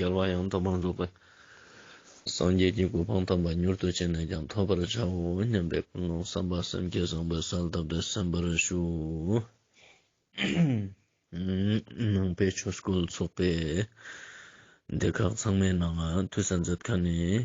འགལ་བ་ཡང་དག་པར་འཛུགས་པ། སངས་རྒྱས་ཀྱི་གོ་འཕང་དམ་པ་མྱུར་དུ་བྱས་ནས་ཀྱང་ཐོབ་པར་བྱའོ་སྙམ་པའི་ཀུན་སློང་བསམ་པ་སེམས་བསྐྱེད་བཟང་པོའི་གསལ་གདབ་ཏུ་གསན་པར་ཞུ། ནང་པའི་ཆོས་སྐོར་ཚོགས་པའི་སྡེ་ཁག་ཚང་མའི་ནང་དུས་གསར་མཛད་ཁང་ནས།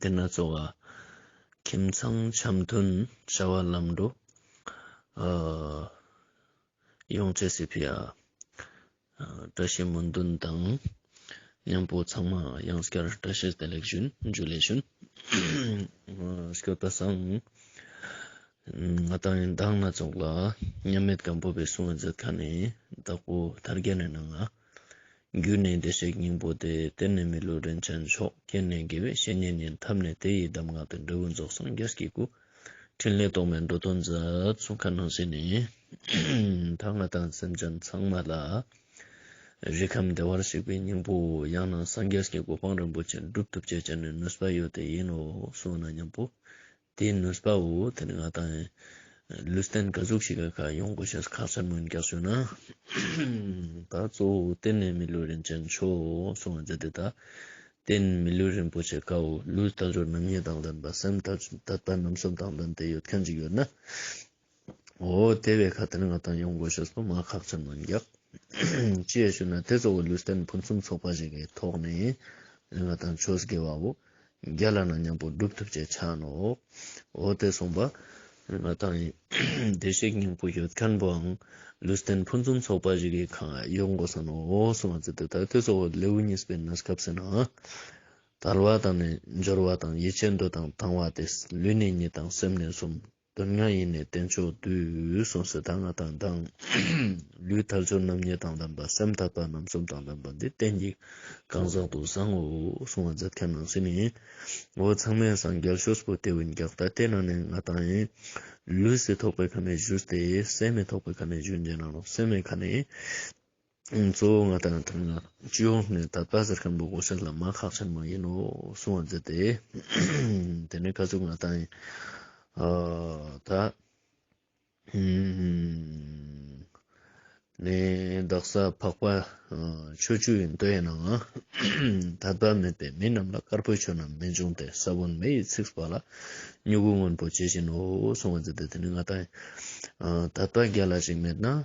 དེ་ན་གཙོ་བ་ཁྱིམ་ཚང་འཆམ་མཐུན་བྱ་བ་ལམ་འགྲོ་ཡོང་བྱེད་སྲིད་པས་བཀྲ་ཤིས་སྨོན་འདུན་དང་མཉམ་པོ་ཚང་མ་ཡང་བསྐྱར་བཀྲ་ཤིས་བདེ་ལེགས་ཞུ་རྒྱུ་ལས་ཞུ་སྐྱོ་ད་སང་ང་དང་ཡང་དག་སྣ་ཚོགས་ལ་མཉམ་མེད་སྒམ་པོ་པའི་གསུང་བ་མཛད་ཁ་ནས་བདག་པོ་དར་རྒྱས་ནས་གནང་ང། རྒྱུད་ནི་བདེ་གཤེགས་སྙིང་པོ་སྟེ་གཏེར་ནི་མི་ལུས་རིན་ཆེན་མཆོག་རྐྱེན་ནི་དགེ་བའི་བཤེས་གཉེན་ཉན་ཐབས་ནི་དེ་ཡི་གདམས་ངག་སྟེ་འབྲས་བུ་རྫོགས་སངས་རྒྱས་ཀྱི་སྐུ། ཕྲིན་ལས་རྟོག་མེད་འགྲོ་དོན་མཛད་གསུང་མཁའ་སྣང་ཞིག་ནི། ད་སྔ་དང་སེམས་ཅན་ཚང་མ་ལ། རིག་ཁམས་བདེ་བར་གཤེགས་པའི་སྙིང་པོ། ཡང་ན་སངས་རྒྱས་ཀྱི་གོ་འཕང་རིན་པོ་ཆེ་འགྲུབ་ཐུབ་བྱེད་ཅིག་ནི་ནུས་པ་ཡོད་དེ་ཡིན་ནོ་གསུངས་ན་སྙམ་པོ། དེའི་ནུས་པ་འོ་དེ་ནི་ང་དང་ལུས་རྟེན་དགའ་གཟུགས་ཤིག་ག་ག་ཡོང་དགོས་ཞེས་ཁ་ཚ་དངོས་རྒྱག་བཟོས་ན། ད་གཙོ་བོ་འོ་དེ་ནི་མི་ལུས་རིན་ཆེན་མཆོག་འོ་སོང་བ་མཛད་དེ་ད་བསྟན་མི་ལུས་རིན་པོ་ཆེ་དགའ་འོ་ལུས་རྟ་མཆོག་རྣམ་གཉིས་དང་ལྡན་པ་སེམས་རྟ་རྟ་རྣམ་གསུམ་དང་ལྡན་དེ་ཡོད་མཁན་ཅིག་ཡོད་ན། ཨོ་དེ་བས་ཁ་དེར་ང་དང་ཡོང་དགོས་ཞེས་སོ་མ་ཁག་ཅིག་མི་འགྱག། ཅེས་ཞུས་ན་དེ་གཙོ་བོ་ལུས་རྟེན་ཕུན་སུམ་ཚོགས་པ་ཞིག་གི་ཐོག་ནས་ང་དང་ཆོས་དགེ་བའོ། རྒྱ་ལ་ན་མཉམ་པོ་སྒྲུབ་ཐུབ་ཅེས་ཆ་ནོ། ཨོ་དེ་སོང་པ། ང་དང་བདེ་གཤེགས་སྙིང་པོ་ཡོད་མཁན་པོའང་ལུས་རྟེན་ཕུན་སུམ་ཚོགས་པ་ཞིག་གི་ཁང་ཡོད་དགོས་ས་ནོ་སོ་མ་ཙི་དེ་ལྟར་དེ་གཙོ་བོ་ལེའུ་གཉིས་པའི་ན་སྐབས་ཟེར་ན། དར་བ་དང་ནི་འབྱོར་བ་དང་ཡིད་ཆེས་འདོད་དང་དང་བ་སྟེ་ལུས་ནི་གཉིས་དང་སེམས་ནི་གསུམ། དོན་ལྔ་ཡེ་ནས་བསྟན་མཆོག་དུས་གསུམ་སྲིད་དང་ལྔ་དང་དང། ལུས་ཐལ་འཆོར་རྣམ་གཉིས་དང་ལྡན་པ་སེམས་ཐར་པ་རྣམ་གསུམ་དང་ལྡན་པ་འདི་བསྟན་གྱི་གང་ཟག་ཏུ་བཟང་ངོ་གསུང་བ་མཛད་མཁན་ནང་སྲིད་ནི། འོ་ཚང་མས་སངས་རྒྱས་ཤོས་སུ་བལྟས་བའི་འགག་ལྟ་དེ་ནང་ནས་ང་དང་ཡིན། ལུས་སེ་ཐོགས་པའི་ཁ་ནས་བཞུར་ཏེ་སེམས་མེ་ཐོགས་པའི་ཁ་ནས་བཞུར་འཇལ་ནང་ལོག་སེམས་མེ་ཁ་ནས། གཙོ་བོ་ང་དང་དེ་སྔ་ཅུས་ཧོང་ནས་ད་ལྟ་ཟེར་མཁན་པོ་གོ་ཤར་ལ་མ་ཁག་ཆེན་མོ་ཡིན་ནོ་གསུང་བ་མཛད་དེ། དེ་ནས་ཁ་ཆུ་ང་དང་ད་ནས་བདག་ས་འཕགས་པ་ཆོས་ཅུས་ཡིན་འདོད་ཡིན་ནའང་ད་ལྟ་མེད་པས་མི་རྣམས་ལ་དཀར་པོའི་ཆོས་རྣམས་མི་འབྱུང་སྟེ་ས་བོན་མེ་ཡིས་ཚིགས་པ་ལ་སྨྱུ་གུ་སྔོན་པོ་ཇི་བཞིན་ནོ་གསུང་བ་མཛད་དེ་དེ་ནས་ང་དང་ད་ལྟ་རྒྱ་ལ་ཞིག་མེད་ན།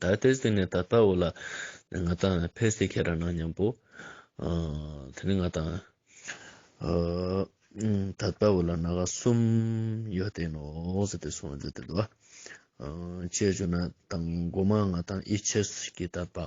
ད་ལྟའི་སྟེང་ནས་ད་ལྟ་བུ་ལ་ང་དང་ཕེ་སི་ཁེ་ར་ནང་མཉམ་པོ། དེ་ནས་ང་དང་ད་ལྟ་བུ་ལ་ནག་གསུམ་ཡོད་དེ་ནོ་ཟེར་ཏེ་སོང་ཟེར་ཏེ་འདུག་བ། བཅས་བྱུང་ན་དང་མགོ་མ་ང་དང་ཨི་ཆེས་ཀྱི་ད་པ།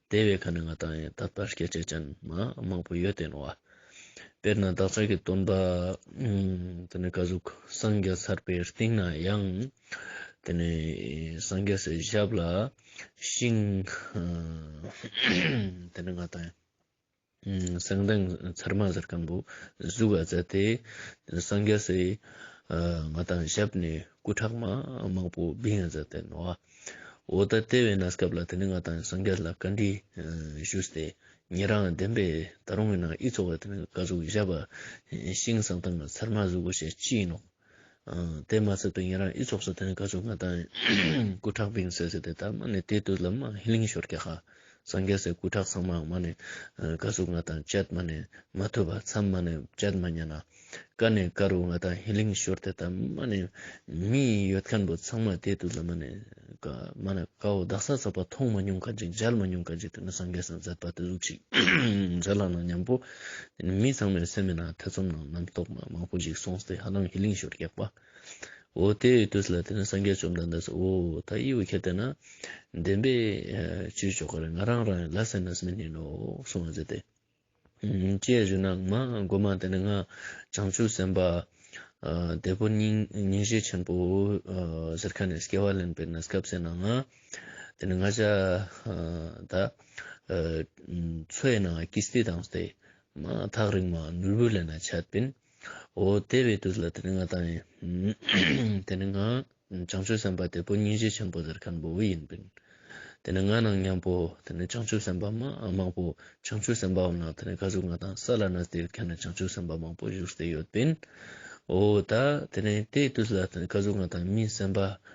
དེ་བས་ཁ་ནས་ང་དང་ཡང་དག་པར་སྐད་ཆ་ཅང་མ་མང་པོ་ཡོད་དོན་བ། དཔེར་ན་བདག་ཅག་གི་སྟོན་པ། དེ་ནས་བཀའ་ཟུར་སངས་རྒྱས་ཚར་པའི་སྟེང་ན་ཡང། དེ་ནས་སངས་རྒྱས་སའི་ཞབས་ལ་ཤིང། དེ་ནས་ང་དང། གསང་མདངས་མཚར་མ་གཟར་སྐམ་པོ་གཟུགས་ལ་བཙལ་ཏེ། སངས་རྒྱ་སེ་ང་དང་ཞབས་ནས་སྐུ་ཁྲག་མ་དམར་པོ་བིང་ཡང་བཙལ་ཏེ་ནོ། འོ་ད་ལྟེ་བའི་ན་སྐབས་ལ་དེ་ནི་ང་དང་སངས་རྒྱ་ལ་བཀའ་འདྲི་ཞུས་ཏེ། ངེད་རང་བདེན་པའི་ད་རུང་ཡིན་ན་ཨི་ཚོགས་བ་དེ་ནི་བཀའ་གཟུགས་བཞག་པ་ཤིང་གསང་མདངས་མཚར་མ་གཟུགས་ཞེས་ཅི་ཡིན་ནོ། དེ་མ་ཚད་དུ་ཡིན་རང་ཨི་ཚོགས་སུ་དོན་དགའ་ཆོ་ག་དང་སྐུ་དྲག་བིང་སེ་སེ་དེ་དག་མ་ནི་དེ་དུས་ལ་མ་ལིང་ཞོར་གྱི་ཧ་སང་གེ་སའི་སྐུ་དྲག་ཚང་མ་མ་ནི་དགའ་ཆོ་ག་དང་བཅད་མ་ནི་མ་ཐུབ་པ་ཚམ་མ་ནི་བཅད་མ་ཉན་ན་ཀ་ནི་ཀ་རུ་ང་དང་ཧི་ལིང་ཞོར་དེ་དག་མ་ནི་མི་ཡི་ཡོད་མཁན་པོ་ཚང་མ་དེ་དུས་ལ་མ་ནི་ཀ་མ་ནི་ཀ་འོ་བདག་ས་ཚགས་པ་མཐོང་མ་མྱོང་ག་ཅིག་མཇལ་མ་མྱོང་ག་ཅིག་དེ་ནི་སང་གེ་སང་མཛད་པ་དེ་གཟུགས་ཅིག་མཛད་ལགས་ན་ཉམས་པོ། དེ་ནས་མི་ཚང་མའི་སེམས་མེད་ན་ཐེ་ཚོམ་ནང་རྣམ་རྟོག་མ་མང་པོ་ཞིག་སོང་སྟེ་ཧ་ལམ་ཧི་ལིང་ཞོར་སྐྱག་པ། འོ་དེ་ཡི་དུས་ལ་དེ་ནས་སངས་རྒྱས་བཅོམ་ལྡན་འདས་སུ་འོ་ད་ཡིད་འོད་ཁྱེར་བསྡད་ན། བདེན་པས་བཅོས་ཆོག་གི་རེད་ང་རང་རང་ཡང་ལ་སེ་ནས་མི་ཉན་ནོ་གསུང་བ་མཛད་དེ། ཀྱེ་གཞོན་ནག་མ་རྒོད་མ་དེ་ནས་ང་བྱང་ཆུབ་སེམས་དཔའ་འདས་པོ་སྙིང་རྗེ་ཆེན་པོ་ཟེར་ཁ་ནས་སྐྱེ་བ་ལེན་པའི་གནས་སྐབས་སེ་ན་ང། དེ་ནས་ང་ཅག་ད་ཚོའི་ནང་ཀི་སྟི་དང་སྟེ། ཐག་རིང་མ་ནོར་བུ་ལས་ན་ཆད་པིན། འོ་དེ་བས་དུས་ལ་དེ་ནས་ང་ད་ཡིན། དེ་ནས་ང་བྱང་ཆུབ་སེམས་དཔའ་དེ་པོ་སྙིང་རྗེ་ཆེན་པོ་དེར་ཁན་པོ་བུ་ཡིན་པིན། དེ་ནས་ང་ནང་མཉམ་པོ་དེ་ནས་བྱང་ཆུབ་སེམས་དཔའ་མང་པོ་བྱང་ཆུབ་སེམས་དཔའ་འོ་ན་དེ་ནས་ཁ་ཟུ་ང་དང་ས་ལ་ན་དེར་ཁན་བྱང་ཆུབ་སེམས་དཔའ་མང་པོ་བཞུགས་སེ་ཡོད་པིན། འོ་ད་དེ་ནས་དེའི་དུས་ལ་དེ་ནས་ཁ་ཟུ་ང་དང་མིན་སེམས་དཔའ་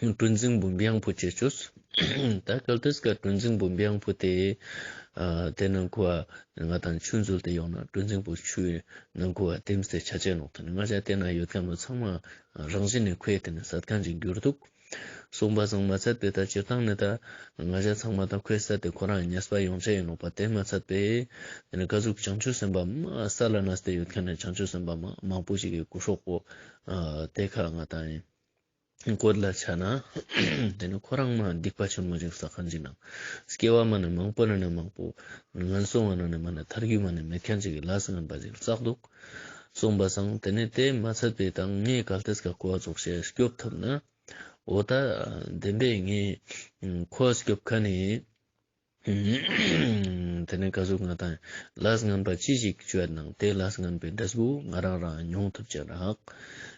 གྲུ་འཛིན་བུམ་དབྱངས་བུ་བཅས་བྱོས། ད་གལ་ཏེ་སྐབས་གྲུ་འཛིན་བུམ་དབྱངས་བུ་དེ་དེ་ནང་ཁུལ་བ་ང་དང་ཆུ་འཛུལ་དེ་ཡོང་ན་གྲུ་འཛིན་བུ་ཆུའི་ནང་ཁུལ་བ་དེམ་སའི་བྱ་བྱེད་ལོག་ཐུབ་ནས་ང་ཅག་དེ་ན་ཡོད་མཁན་པོ་ཚང་མ་རང་བཞིན་ནས་ཁོའི་དེ་ནས་ཟ་ཐང་ཅིག་འགྱུར་འདུག་གསུངས་པ་ཟང་མ་ཚད་པས་ད་སྤྱིར་བཏང་ནས་ད་ང་ཅག་ཚང་མ་ད་ཁོའི་ས་དེ་ཁོ་རང་ཉེས་པ་ཡོང་བྱེད་ཡིན་ལོག་པ་དེ་མ་ཚད་པས་དེ་ནས་དཀའ་ཟུག་བྱང་ཆུ་སེམས་པ་སཱ་ལ་ན་སྟེ་ཡོད་མཁན་ནས་བྱང་ཆུ་སེམས་པ་མང་པོ་ཞིག་གི་སྐུ་སྲོག་པོ་དེ་ཁག་ང་དང། བཀོད་ལ་ཆ་ན། དེ་ནི་ཁོ་རང་མ་སྡིག་པ་ཆེན་མོ་ཅིག་ཟ་ཁང་གི་ནང། སྐྱེ་བ་མ་ནས་མང་པོ་ན་ནས་མང་པོ། ངན་སོང་བ་ན་ནས་མ་ནས་མཐར་རྒྱུད་མ་ནས་མི་ཁྱོད་ཅིག་གི་ལགས་སུ་ངན་པ་ཅིག་བཙགས་འདུག། གསུངས་པ་སང་དེ་ནས་དེ་མ་ཚད་པའི་དང་ངའི་གལ་ཏེ་སྐ་ཀོ་བ་རྫོགས་ཤེས་སྐྱོབ་ཐུབ་ན། འོ་ད། བདེན་པས་ངས། ཁོ་སྐྱོབ་ཁ་ནས། དེ་ནས་བཀའ་ཟུར་ང་དང་ལཱས་ངན་པ་ཅི་ཞིག་བཅོས་གནང་དེ་ལཱས་ངན་པའི་འདྲེ་སྦུག་ང་རང་རང་མྱོང་ཐུབ་ཅེས་རག་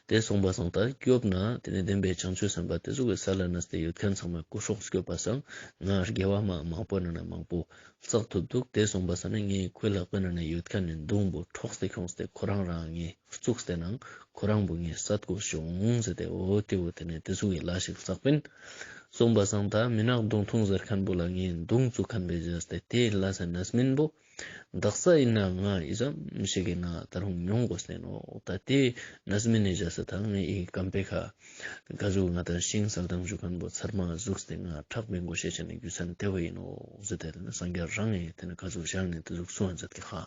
དེ་གསུངས་པ་བཟང་ལྟར་སྐྱོབས་ན་དེ་ནས་བདེན་པའི་བྱང་ཆུ་ཟེན་པ་དེ་ཟུག་གི་ས་ལ་ནཱས་དེ་ཡོད་མཁན་ཚང་མ་སྐུ་སྲོག་སྐྱོབས་པ་བཟང་ང་རྒྱལ་བ་མ་མང་པོ་ན་ན་མང་པོ་བཙགས་ཐུབ་འདུག་དེ་གསུངས་པ་ཟ་ན་ངའི་སྐུ་ལ་དཔེ་ན་ན་ཡོད་མཁན་ནི་མདུང་བུ་འཕྲོགས་སེ་ཁྱོངས་སེ་ཁོ་རང་རང་ངའི། བཙུགས་ཟེར་ནའང་ཁོ་རང་བུ་ངའི་ས་ཐོག་བྱུང་ཟེར་ཏེ་འོ་དེ་འོ་དེ་ནས་དེ་ཟུག་གི་ལ་ཞིག་བསགས་པས། གསུངས་པ་སང་ད་མི་ནག་མདུང་ཐུང་ཟེར་མཁན་པོ་ལ་ངས་མདུང་བཙུགས་མཁན་པོའི་གཞས་ཏེ་དེ་ལ་ས་ནས་མིན་པོ། བདག་ས་ཡིན་ན་ང་ཡི་ས་ཞིག་གི་ང་ད་རུང་མྱོང་དགོས་ཟེར་ནོ་ད་དེ་ནས་མིན་ནས་གཞས་ས་དང་ངའི་ཡི་གེ་སྐམ་པའི་ཁ། དགའ་བཞུགས་ང་ད་ཤིང་བསགས་སྦྲང་བཞུགས་མཁན་པོ་ཚར་མ་བཞུགས་ཏེ་ང་ཁྲག་པའི་མགོ་ཤེས་བྱས་ནས་རྒྱུ་མཚན་དེ་བས་ཡིན་ནོ་ཟེར་ཏེ་དེ་ནས་སང་རྒྱ་རང་ངས་དེ་ནས་ཁ་ཟུག་བཞག་ནས་དེ་ཟུག་སོང་ཟེར་ཏེ་ཁ།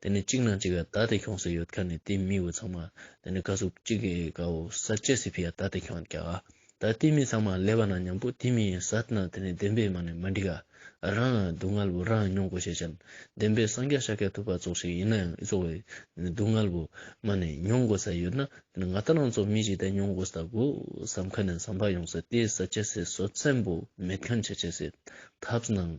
དེ་ནས་གཅིག་ནང་གཅིག་ག་ད་དེ་ཁྱོང་ཟེར་ཡོད་ཁ་ནས་དེ་མི་བུ་ཚང་མ་དེ་ནས་ཁ་ཟུག་གཅིག་གིས་ག་འོ་ས་བཅད་སི་ཕི་ཡ་ད་དེ་ཁྱོང་རྒྱ་ག་ད་དེ་མི་ཚང་མ་ལས་པ་ན་མཉམ་པོ་དེ་མི་ཡིན་ས་ཏི་ན་དེ་ནས་བདེན་པའི་མ་ནས་མ་འགྲིག་ག་རང་ལ་སྡུག་བསྔལ་བོ་རང་མྱོང་གོ་ཤེས་ཅན་བདེན་པའི་སངས་རྒྱ་ཤ་ཁད་ཐུབ་པ་ཙོག་ཞིག་ཡིན་ན་ཡང་ཨི་ཙོག་བའི་སྡུག་བསྔལ་བོ་མ་ནས་མྱོང་གོ་ས་ཡོད་ན་དེ་ནས་ང་ད་རང་ཙོག་མི་ཞིག་ད་མྱོང་གོ་ས་ད་གོ་བསམ་ཁ་ནས་བསམ་པ་ཡོང་ས་དེ་ས་བཅད་སི་སོ་བཙན་པོ་མེད་ཁན་ཆ་བཅད་སི་ཐབས་ནང།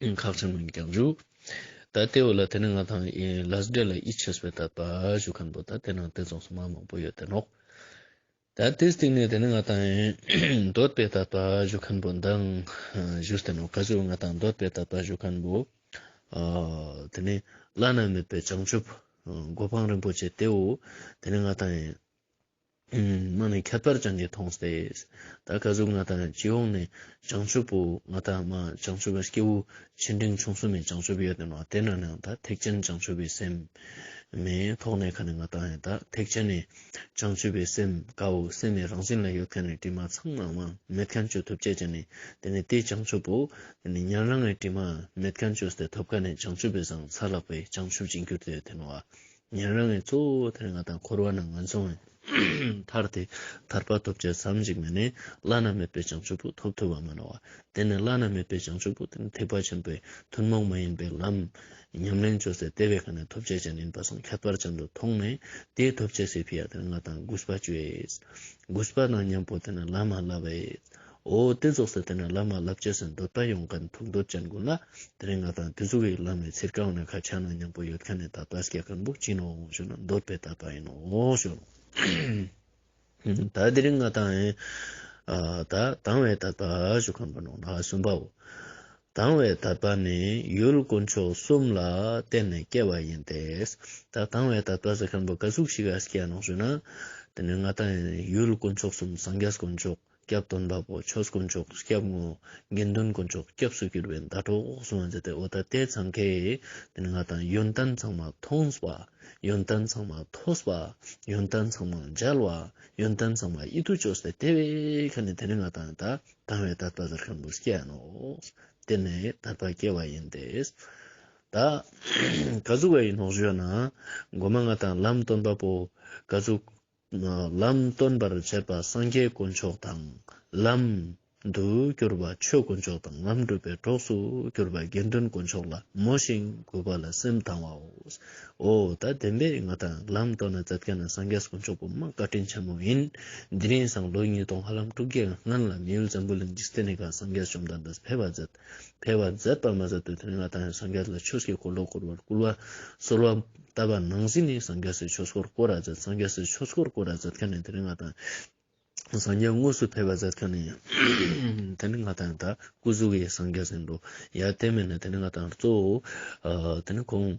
ཁག་ཆེན་མོ་ཡིན་ཀྱང་བཞུགས། ད་ལྟའི་བར་ལ་དེ་ནི་ང་དང་ལཱས་སྦྲེལ་ལ་ཡིད་ཆེས་པའི་དད་པ་ཞུ་མཁན་པོ་དང་དེ་ནང་དེ་རྫོགས་སུ་མ་མང་པོ་ཡོད་དེ་ནོག་ད་ལྟའི་སྟེང་ནས་དེ་ནི་ང་དང་འདོད་པའི་དད་པ་ཞུ་མཁན་པོ་འདང་བཞུགས་དེ་ནོག་ག་ཅོ་ང་དང་འདོད་པའི་དད་པ་ཞུ་མཁན་པོ་དེ་ནི་བླ་ན་མེད་པའི་བྱང་ཆུབ་སྒོ་འཕང་རིན་པོ་ཆེ་དེའོ་དེ་ནི་ང་དང། མ་ནི་ཁྱད་པར་བྱང་གིས་མཐོང་སྟེ། ད་ག་གཟུགས་ང་དང་ཅི་འོང་ནི་བྱང་ཆུབ་བོ། ང་དང་མ་བྱང་ཆུབ་བའི་སྐྱེ་བོ་ཆེ་འབྲིང་ཆུང་གསུམ་མའི་བྱང་ཆུབ་ཡོད་དོ། དེ་ན་ནི་ད་ཐེག་ཆེན་བྱང་ཆུབ་པའི་སེམས་མི་ཐོགས་ནས་ཁ་ནི་ང་དང་ད་ཐེག་ཆེན་ནི་བྱང་ཆུབ་པའི་སེམས་དཀའོ། སེམས་ནི་རང་བཞིན་ལ་ཡོད་མཁན་ནི་དྲི་མ་ཚང་མ་དབང་མེད་མཁན་ཆོས་ཐོབ་བྱེད་ཅན་ནི་དེ་ནི་དེ་བྱང་ཆུབ་བོ། དེ་ནི་ཉན་རང་ངས་དྲི་མ་མེད་མཁན་ཆོས་དེ་ཐོབ་ཁ་ནི་བྱང་ཆུབ་པའི་ཟང་ས་ལགས་པས་བྱང་ཆུབ་ཅིང་གྱུར་ཏེ་དེ་ནོ། ཉན་རང་གིས་གཙོ་བོ་དེར་ང་དང་འཁོར་བ་རྣམས་ངོས་བཟུང་བས། མཐར་དེས་ཐར་པ་ཐོབ་ཅེས་བསམ་གཅིག་མས་ནི་བླ་ན་མེད་པའི་བྱང་ཆུབ་པོ་ཐོབ་ཐུབ་བ་མ་ནོར་བ། དེ་ནི་བླ་ན་མེད་པའི་བྱང་ཆུབ་པོ་དེ་ནི་ཐེག་པ་ཆེན་པོའི་ཐུན་མོང་མ་ཡིན་པའི་ལམ། ཉམས་ལེན་བཅོལ་སའི་ལྟེ་བའི་ཁ་ནས་ཐོབ་བྱེད་ཅན་ཡིན་པ་སོགས་ཁྱད་པར་ཅན་དུ་མཐོང་ནས་དེས་ཐོབ་བྱེད་སའི་ཕི་ཡ་དེར་ང་དང་གུས་པ་བཅོལ། གུས་པ་དང་མཉམ་པོ་དེ་ནི་བླ་མ་བསླབ། ཨོ་རྟེན་རྫོགས་སའི་དེ་ན་བླ་མ་བསླབ་བྱའི་སེམས་འདོད་པ་ཡོངས་གང་ཐུགས་འདོད་ཅན་དགོངས་ན་དེ་རིང་ང་དང་དུས་གཟུགས་ཡིག་ལམ་མེད་ཚེ་སྐལ་བ་ན་ཁ་ཆག་ན་སྙིང་པོ་ཡོད་མཁན་ནས་ད་པཱ་སྐྱེ་གང་བུག་ཅིང་འོང་ཞོག་ན་འདོད་པས་ད་པཱ་ཡིན་འོང་ཞོག། ད་དེ་རིང་ང་དང་ཨེ། ད་དང་བས་ད་པཱ་ཞོག་གང་བུ་ནོ་ན་གསུམ་པའོ། དང་བས་ད་པཱ་ནི་ཡུལ་དཀོན་མཆོག་གསུམ་ལ་བརྟེན་ནས་སྐྱེ་བ་ཡིན་ཏེ། ད་དང་བས་ད་པཱ་ས་གང་བུ་ག་གཟུགས་ཤིག་ག་སྐྱེ་ནོ་ཞུ་ན། དེ་ནི་ང་དང་ཨེ་ཡུལ་དཀོན་མཆོག་གསུམ་སངས་རྒྱས་དཀོན་མཆོག་སྐྱབས་དོན་དཔའ་བོ་ཆོས་དཀོན་མཆོག་སྐྱབས་ངོ། དགེ་འདུན་དཀོན་མཆོག་སྐྱབས་སུ་གྱུར་པའི་ཟླ་གྲོགས་འོག་སོང་བ་མཛད་དེ་འོ་ད་ལྟའི་ཚང་ཁའི། དེ་ནི་ང་དང་ཡོན་ཏན་ཚང་མ་མཐོང་བ། ཡོན་ཏན་ཚང་མ་ཐོས་པ། ཡོན་ཏན་ཚང་མ་མཇལ་བ། ཡོན་ཏན་ཚང་མ་ཨི་ཐུག་ཅོག་སྟེ་དེ་བས་ཁ་ནས་དེ་ནི་ང་དང་ད་དང་བའི་དར་པ་ཟེར་མཁན་པོ་སྐྱེ་ཡ་ནོ། དེ་ནས་དར་པ་སྐྱེ་བ་ཡིན་ཏེ། ད་ག་ཟུག་བ་ཡིན་ནོག་བཞོན་ན། སྒོ་མ་ང་དང་ལམ་སྟོན་པ་པོ། ག་ཟུག། ལམ་སྟོན་པར་བྱེད་པ་སངས་རྒྱས་དཀོན་མཆོག་དང། ལམ། དུ་བསྒྱུར་བ་ཆོས་དཀོན་མཆོག་དང་ལམ་སྒྲུབ་པའི་གྲོགས་སུ་གྱུར་པ་དགེ་འདུན་དཀོན་མཆོག་ལ་མོས་ཤིང་གུས་པ་ལ་སེམས་དང་བའོ། འོ་ད་བདེན་པས་ང་དང་ལམ་སྟོན་ན་ཛབ་ཀྱ་ན་སངས་རྒྱས་དཀོན་མཆོག་བུ་མོ་བཀའ་དྲིན་ཆེན་མོ་ཡིན། འདི་ནས་བཟང་ལོ་ཉིས་སྟོང་ཧ་ལམ་དྲུག་བརྒྱའི་སྔོན་ལ་མི་ཡུལ་ཛམྦུ་ལ་འཇིག་རྟེན་ནས་ག་སངས་རྒྱས་བཅོམ་ལྡན་འདས་ཕེབས་པ་ཛད། འཕེལ་བར་མཛད་པར་མ་ཟད་དུ་དོན་ལྔ་དང་ཡང་སངས་རྒྱས་ལ་ཆོས་སྐྱེ་འཁོར་ལོ་བསྐོར་བར་བསྐུལ་བ། གསོལ་བ། བཏབ་པ་ནང་བཞིན་ནི་སངས་རྒྱས་སུ་ཆོས་སྐོར་བསྐོར་ར་མཛད་སངས་རྒྱས་སུ་ཆོས་སྐོར་བསྐོར་ར་མཛད་མཁན་ནི་དོན་ལྔ་དང། སངས་རྒྱས་དངོས་སུ་འཕེལ་བར་མཛད་མཁན་ནི། དོན་ལྔ་དང་ཡང་དག་སྐུ་གཟུགས་ཡེ་སངས་རྒྱས་ཟེར་འགྲོ། ཡང་བསྟན་མེད་ནི་དོན་ལྔ་དང་གཙོ་བོའོ། དེ་ནི་གོང།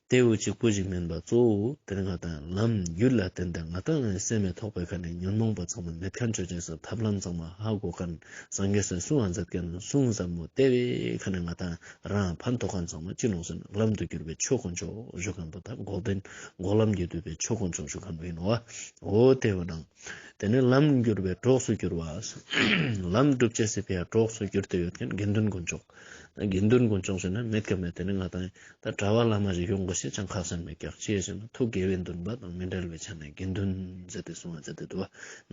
དེ་འོད་ཀྱི་སྐུ་ཞིག་མིན་པར་གཙོ་བོ་དེ་ལྔ་དང་ལམ་རྒྱུད་ལ་བརྟེན་ཏེ་ང་དང་ངའི་སེམས་མི་ཐོགས་པའི་ཁ་ནས་ཉོན་མོངས་པ་ཚང་མ་མེད་མཁན་ཆོས་ཅན་སོགས་ཐབས་ལམ་ཚང་མ་ཧ་གོ་མཁན་སངས་རྒྱས་སུ་སུའང་མཛད་མཁན་གསུང་ཟབ་མོ་ལྟེ་བའི་ཁ་ནས་ང་དང་རང་ཕན་ཐོགས་མཁན་ཚང་མ་གཅིག་ལོངས་སུ་ལམ་དུ་གྱུར་པའི་ཆོས་དཀོན་མཆོག་བཞུགས་མཁན་པོ་དང་འགོག་བདེན་འགོག་ལམ་གྱིས་བསྡུས་པའི་ཆོས་དཀོན་མཆོག་བཞུགས་མཁན་པོ་ཡིན་ནོ། འོ་དེ་བས་ན་དེ་ནི་ལམ་བསྒྱུར་བའི་གྲོགས་སུ་གྱུར་བ། ལམ་སྒྲུབ་བྱེད་སྲིད་པའི་གྲོགས་སུ་གྱུར་ཏེ་ཡོད་མཁན་དགེ་འདུན་དཀོན་མཆོག། དགེ་འདུན་ཀུན་སྐྱོང་བྱེད་ན་མེད་ཀ་མེད་དེ་ནི་ང་དང་ད་གྲྭ་བ་བླ་མ་རིག་ཡོང་དགོས་ཞེས་ཀྱང་ཁག་སེམས་མེད་ཀྱང་སྐྱེས་བཞིན་དུ་ཐུགས་དགེ་བས་འདུན་པ་དང་མི་འབྲལ་བའི་ཆ་ནས་དགེ་འདུན་མཛད་དེ་སོང་བ་ཇི་སྟེ་དུ་བ་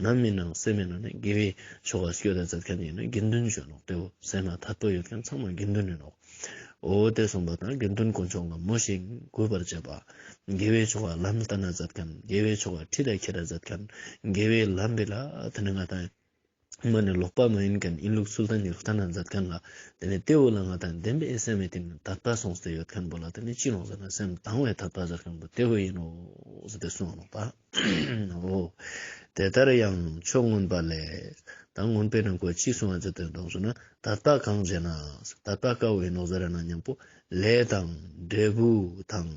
ནམ་མི་སྣང་སེམས་མེད་ན་ནི་དགེ་བའི་ཆོ་ག་བསྐྱོད་དང་མཛད་མཁན་ཡིན་ན་དགེ་འདུན་གཞོན་ནུ་སྟེའོ་ཟེར་ན་ད་དུ་ཡོད་མཁན་ཚང་མ་དགེ་འདུན་ཡིན་ནོའོ་དེ་གསུངས་པ་དང་དགེ་འདུན་ཀུན་སྐྱོང་ལ་མོ་ཞིག་གུས་པར་བྱེད་པ། དགེ་བའི་ཆོ་ག་ལམ་ལྟ་ན་མཛད་མཁན་དགེ་བའི་ཆོ་ག་ཁྲིད་དང་འཁྱེར་དང་མཛད་མཁན་དགེ་བའི་ལམ་སྦིས་ལ་དེ་ནི་ང་དང། མ་ནི་ལོག་པ་མ་ཡིན་གན་ཨིན་ལུགས་སུལ་ཏན་གྱི་རུ་སྟ་ན་འཛབ་མཁན་ལ་དེ་ནས་ཏེའུ་ལ་ང་དང་ལྡན་པའི་ཨེ་སེམས་མེད་དེ་ནས་དག་པ་སོང་ཟེར་ཡོད་མཁན་པོ་ལ་དེ་ནས་ཅི་ལོག་ཟེར་ན་སེམས་དང་བའི་དག་པ་ཟེར་མཁན་པོ་ཏེའུ་ཡིན་ནོ་ཟེར་ཏེ་གསུང་ལོག་པའོ། དེ་ལྟར་ཡང་ཕྱོགས་མངོན་པ་ལས་དང་མངོན་པའི་རྣམ་ཀུན་ཅི་གསུང་བ་ཅི་དོན་དང་གསུང་ན་དག་པ་གང་བྱེད་ན་དག་པ་དཀའ་བ་ཡིན་ནོ་ཟེར་ན་སྙམ་པོ་ལས་དང་འབྲས་བུ་དང་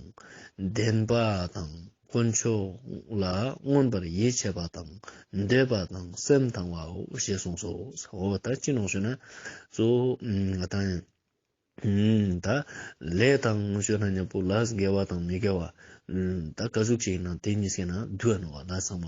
ལྡན་པ་དང། དཀོན་མཆོག་ལ་མངོན་པར་ཡིད་ཆེས་པ་དང་འདོད་པ་དང་སེམས་དང་བའོ་ཞེས་གསུངས་སོ། འོ་ད་ཅི་ནང་བཤོས་ན། གཙོ་བོ་དང། ད་ལས་དང་ནང་བཤོས་ན་ཉབ་པོ་ལ་འགལ་བ་དང་མི་འགལ་བ། ད་ག་གཟུགས་ཅན་ཡིན་ན་དེ་གཉིས་སེལ་ན་བསྡུ་བ་ནོར་བ་ལ་ཚང་བ།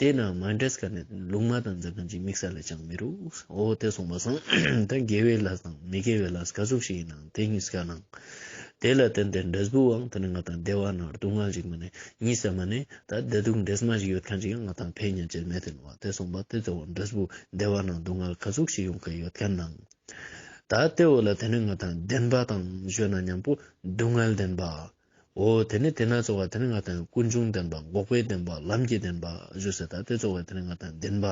དེས་ན་མ་འདྲེས་ཀ་ནས་ལུགས་མ་དང་འཛག་མཁན་གྱི་དམིགས་བསལ་ལས་ཀྱང་མི་རུང། འོ་དེ་སོང་བ་སང་ད་དགེ་བའི་ལྷ་དང་མི་དགེ་བའི་ལྷ་ག་ཟུག་ཞིག་ཡིན་ནའང་དེ་གཉིས་ཀ་ནང། དེ་ལ་བརྟེན་ཏེ་འདྲེས་བུའང་དེ་ནི་ང་དང་སྡེ་བ་ན་སྡུག་བསྔལ་ཞིག་མ་ནི་གཉིས་སད་མ་ནི་ད་བདེ་སྡུག་འདྲེས་མ་ཞིག་ཡོད་མཁན་གྱི་ང་དང་ཕའི་གཉེན་ཆད་མེད་དེ་ནོ་བ་དེ་སོང་བ་དེ་ཚེ་འོ་འདྲེས་བུ་སྡེ་བ་ན་སྡུག་བསྔལ་ག་ཟུག་ཞིག་ཡོང་གི་ཡོད་མཁན་ནང། ད་དེ་འོ་ལ་དེ་ནི་ང་དང་ལྡན་པ་དང་བཞོན་ན་མཉམ་པོ་སྡུག་བསྔལ་ལྡན་པ། འོ་དེ་ནི་དེ་ན་ཚོགས་པ་དེ་ནི་ང་དང་ཀུན་འབྱུང་ལྡན་པ་འགོག་པའི་བདེན་པ་ལམ་གྱི་བདེན་པ་བཞུགས་ཟེར་ད་དེ་ཚོགས་པ་དེ་ནི་ང་དང་བདེན་པ།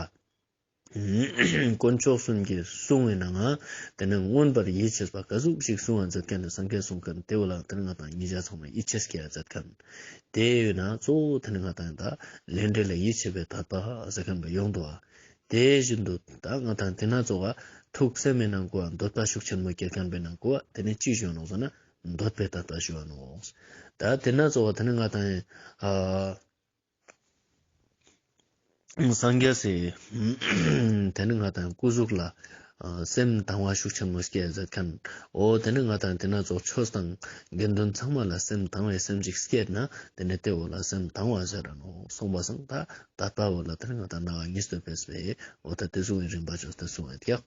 དཀོན་མཆོག་གསུམ་གྱིས་བསྲུང་བས་ན་ང་དེ་ནི་མངོན་པར་ཡིད་ཆེས་པ་ག་གཟུགས་ཤིག་བསྲུང་བ་མཛད་མཁན་ནི་སངས་རྒྱས་གསུང་མཁན་དེའོ་ལགས་དེ་ནི་ང་དང་གཉིས་ཆ་ཚང་བའི་ཡིད་ཆེས་སྐྱེ་བ་མཛད་མཁན། དེ་ཡོད་ན་གཙོ་བོ་དེ་ནི་ང་དང་དག་ལས་འབྲས་ལ་ཡིད་ཆེས་པའི་དག་པ་ཟེར་མཁན་པ་ཡོངས་འདུའོ། དེ་བཞིན་དུ་དག་ང་དང་དེ་ན་ཚོགས་པ་ཐུགས་བསམ་མེད་ན་འགོ་བ་འདོད་པ་ཤུགས་ཆེན་མོ་སྐྱེ་མཁན་པས་ན་འགོ་བ་དེ་ནི་ཅིས་བྱུང་ལགས་སོ་ན་འདོད་པས་ད་ལྟར་ཞུ་བ་ནོ། ད་དེ་ན་རྩོལ་བ་དེ་ནི་ང་དང། སངས་རྒྱས་སེ། དེ་ནི་ང་དང་སྐུ་གཟུགས་ལ། སེམས་དང་བ་ཤུགས་ཆེན་མོ་སྐྱེས་མཛད་མཁན། འོ་དེ་ནི་ང་དང་དེ་ན་རྫོགས་ཆོས་དང། དགེ་འདུན་ཚང་མ་ལ་སེམས་དང་བའི་སེམས་ཅིག་སྐྱེས་ན་དེ་ནི་དེ་འོ་ལ་སེམས་དང་བ་ཟེར་ར་ནོ་གསུངས་པ་སངས་ད་ད་པ་འོ་ལ་དེ་ནི་ང་དང་ན་བ་གཉིས་སྟོན་པས་སོ། འོ་ད་དེ་གཟུང་བའི་རིམ་པ་ཅུང་ཟད་གསུངས་བས་ཀྱང།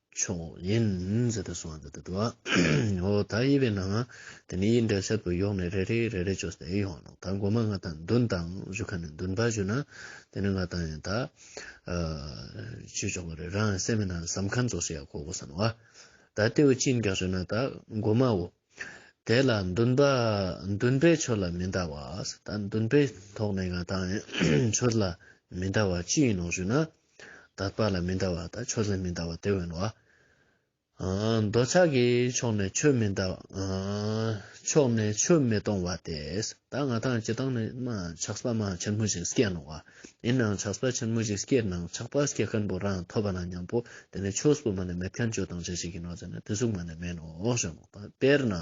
མཆོག་ཡིན། ཟེར་ཏེ་གསུང་བ་འདི་ལྟར་དུ། འོ་ད་ཡིད་པའི་ནང། དེ་ནས་ཡིད་འདྲེན་གསེབ་ཏུ་ཡོང་ནས་རེ་རེ་རེ་རེ་བྱོས་ཏེ་ཡོང་ལ། ད་འགོ་མ་ང་དང་མདུན་དང་བཞུགས་ཁ་ནས་མདུན་པར་བཞུགས་ན། དེ་ནི་ང་དང་ཡང་དག། བྱེད་ཆོག་པ་རེད་རང་གསལ་མེད་ན་ཟམ་ཁ་འཛོགས་སུ་ཡག་གོ་བསམ་བ། ད་རྟེའུ་གཅིག་འགག་བྱོས་ན་ད་འགོ་མའོ། དེ་ལ་མདུན་པ། མདུན་པའི་ཆོས་ལ་མི་འདའ་བ། ད་མདུན་པའི་ཐོག་ནས་ང་དང། ཡང་ཆོས་ལ་མི་འདའ་བ་ཅི་ཡིན་ནོ་ཞུས་ན། དག་པ་ལ་མི་འདའ་བ་དང་ཆོས་ལ་མི་འདའ་བ་དེ་བས་ནོ། འདོད་ཆགས་ཀྱི་ཕྱོགས་ནས་ཆོས་མི་འདའ་བ། ཕྱོགས་ནས་ཆོས་མི་གཏོང་བ་དེ། ད་ང་དང་ཁྱེད་དང་ནི་ཆགས་པ་མ་ཆེན་མོ་ཞིག་སྐྱེས་ནོ། ཡིན་ནའང་ཆགས་པ་ཆེན་མོ་ཞིག་སྐྱེས་ནའང་ཆགས་པ་སྐྱེ་མཁན་པོ་རང་ཐོབ་པ་ན་མཉམ་པོ་དེ་ནི་ཆོས་སུ་མ་ནས་མེད་མཁན་ཆོས་དང་ཅི་ཞིག་ཡིན་ནོ་ཟེར་ན་དེ་གཟུགས་མ་ནས་མེད་ནོ་ཞེས་དམིགས་པ། དཔེར་ན།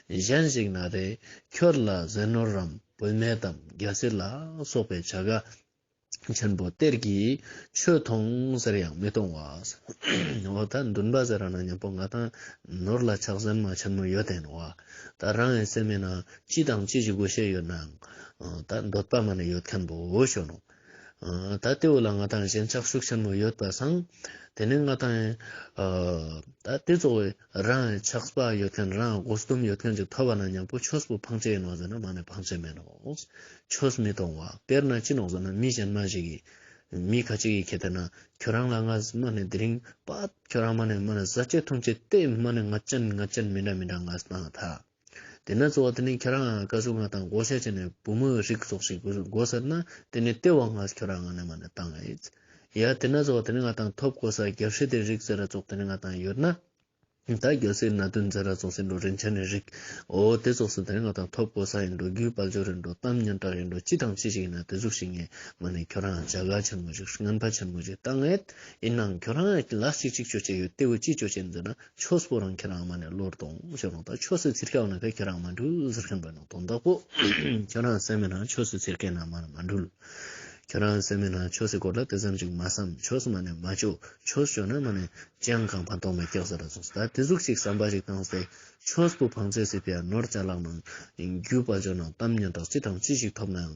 གཞན་ཞིག་ན་རེ་ཁྱོད་ལ་ཟས་ནོར་རམ་བུད་མེད་དམ་རྒྱལ་སྲིད་ལ་སོགས་པའི་བྱ་དགའ་ཆེན་པོ་གཏེར་གྱི་ཆོས་མཐོང་ཟེར་ཡང་མི་མཐོང་བ། འོ་ད་འདུན་པ་ཟེར་ན་ཉོན་པོ་ང་དང་ནོར་ལ་ཆགས་ཟེར་མ་ཆེན་མོ་ཡོད་དེ་ནོར་བ། ད་རང་ཡང་སེམས་མེད་ན་ཅི་དང་ཅི་ཞིག་དགོས་ཤེས་ཡོད་ནའང་ད་འདོད་པ་མ་ནས་ཡོད་མཁན་པོ་ཞོ་ནོ། ད་ལྟེའུ་ལ་ང་དང་གཞན་ཆགས་ཤུགས་ཆེན་མོ་ཡོད་པ་སང་དེ་ནས་ང་དང། ད་དེ་ཚོ། རང་ལས་ཆགས་པ་ཡོད་མཁན་རང་སྒོ་གསུམ་ཡོད་མཁན་གྱི་ཐོབ་པ་ན་མྱང་པོ་ཆོས་སུ་འཕང་བྱེད་ཡིན་ནོ་ཟེར་ན་མ་ནི་འཕང་བྱེད་མིན་ནོ། ཆོས་མི་མཐོང་བ་དཔེར་ན་ཅི་ནོ་ཟེར་ན་མི་གཞན་མ་ཞིག་གིས། མི་ཁ་ཅིག་གིས་ཁྱེད་དེ་ན་ཁྱོད་རང་ལ་ང་མ་ནི་དེ་རིང་པ། ཁྱོད་རང་མ་ནི་མ་ནི་ཟ་བྱེད་འཐུང་བྱེད་ལྟས་མ་ནི་ང་ཅན་ང་ཅན་མི་འདྲ་མི་འདྲ་ང་ན་ད། དེ་ནས་གཙོ་བོ་དེ་ནི་ཁྱེད་རང་ཨ་ཀ་ཟུག་ང་དང་བགོ་བཤའ་བྱས་ནས་བུ་མོའི་རིགས་གསོག་ཤིག་བགོ་ཟེར་ན་དེ་ནི་ལྟེ་བ་ངས་ཁྱོད་རང་ང་ནས་མ་ནས་བཏང་ཨེ། ཡ། དེ་ནས་གཙོ་བོ་དེ་ནི་ང་དང་ཐོབ་བགོ་ས་རྒྱབ་ཤི་དེ་རིགས་ཟེར་ར་བཙོག་དེ་ནི་ང་དང་ཡོད་ན། ད་རྒྱབ་སེ་ན་དུན་ཟེར་ར་བཙོག་སེ་འགྲོ་རིན་ཆ་ནི་རིགས་ཨོ་དེ་བཙོག་སེ་དེ་ནི་ང་དང་ཐོབ་བགོ་ས་ཡིན་འགྲོ་རྒྱུའི་དཔལ་འབྱོར་ཡིན་འགྲོ་གཏམ་སྙན་གྲགས་ཡིན་འགྲོ་ཅི་དང་ཅི་ཞིག་ཡིན་ན་དེ་གཟུགས་ཤིག་ངས་མ་ནས་ཁྱོད་རང་ཨ་བྱ་དགའ་ཆེན་མོ་ཞིག་རྔན་པ་ཆེན་མོ་ཞིག་བཏང་ཨེ། ཡིན་ནའང་ཁྱོད་རང་ཨ་ལ་ཅིག་ཅིག་ཅོ་བྱས་ཡོད་ལྟེ་བུ་ཅིག་ཅོ་བྱས་ཟེར་ན་ཆོས་པོ་རང་ཁྱེད་རང་མ་ནས་བློར་གཏོང་ཞེས་རུང་དང་ཆོས་སུ་ཚིར་སྐྱག་ནང་ཁ་ཁྱེད་རང་མ་འདྲུལ་ཟེར་མཁན་པོ་ནང་དོན་དག་པོ་ཁྱེད་རང་སེམས་མེད་ན་ཆོས་སུ་ཚིར་སྐད་ནང་མ་ནས་མ་འདྲུལ། ཁྱེད་རང་སེམས་མེད་ན་ཆོས་སུ་སྐོར་ལ་དེ་ཙམ་ཅིག་མ་བསམ་ཆོས་སུ་མ་ནས་མ་སྤྱོད་ཆོས་སྤྱོད་ན་མ་ནས་སྤྱན་གང་ཕ་འདོག་མ་སྐྱག་ཟེར་ར་ཟུག་ཟ་དེ་ཟུག་ཅིག་བསམ་པ་ཞིག་བཏང་ཟེ་ཆོས་པོ་བང་རྩལ་སྲིད་པའི་ནོར་ཅལ་ལག་ནང་རྒྱུས་པ་འཇོག་ན་གཏམ་སྙན་གྲགས་ཅི་དང་ཅི་ཞིག་ཐོབ་ནའང་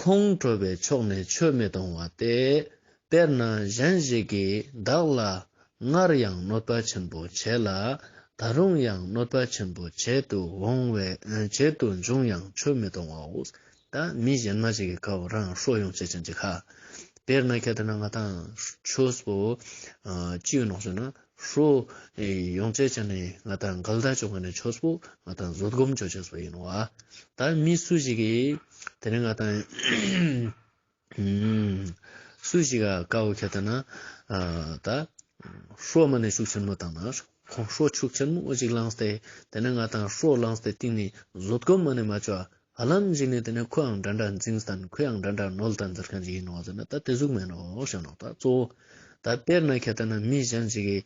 ཁོང་ཁྲོ་བའི་ཕྱོགས་ནས་ཆོས་མི་གཏོང་བ་སྟེ། དཔེར་ན་གཞན་ཞིག་གིས་བདག་ལ། སྔར་ཡང་གནོད་པ་ཆེན་པོ་བྱས་ལ། ད་རུང་ཡང་གནོད་པ་ཆེན་པོ་བྱེད་དུ་འོང་བས་བྱེད་དུ་འབྱུང་ཡང་ཆོས་མི་གཏོང་བའོ། ད་མི་གཞན་མ་ཞིག་གི་ཁ་འོག་རང་ཧྲོག་ཡོང་བྱེད་ཅན་གྱི་ཁ། དཔེར་ན་ཁྱེད་ལྟར་ན་ང་དང། ཆོས་པོ། སྤྱི་ཡོད་ནོག་བྱོན་ན་ཧྲཱི། ཡོངས་ཚད་ཆ་ནས་ང་ད་འགལ་ཟླ་བྱུང་བ་ནི་ཆོས་སྤོ་ང་དང་བཟོད་སྒོམ་བྱོས་བྱས་སོ་ཡིན་ནོ་ཨ། ད་མི་སུ་ཞིག་གིས་དེ་ནི་ང་ད་སུ་ཞིག་ག་དཀའ་བོ་ཁྱེད་ད་ན་ད། ཧྲཱི། མ་ནས་ཤུགས་ཆེན་མོ་བཏང་ན་ཁོང་ཧྲཱི་ཤུགས་ཆེན་མོ་ཅིག་བླངས་ཏེ་དེ་ནི་ང་ད་ཧྲཱི་བླངས་ཏེ་གཏིང་ནས་བཟོད་སྒོམ་མ་ནས་མ་བྱོས་བ་ལམ་གཅིག་ནི་དེ་ནས་ཁོའང་འདྲ་འདྲ་འཛིངས་ས་དང་ཁོའང་འདྲ་འདྲ་ནོལ་ད་འཛེར་མཁན་ཅིག་ཡིན་ནོ་ཟེར་ན་ད་དེ་གཟུགས་མེད་ནོ་ཞེས་ནོག་ད་གཙོ་བོ། ད་དཔེར་ན་ཁྱེད་ལྟ་ན་མི་གཞན་ཅིག་གིས་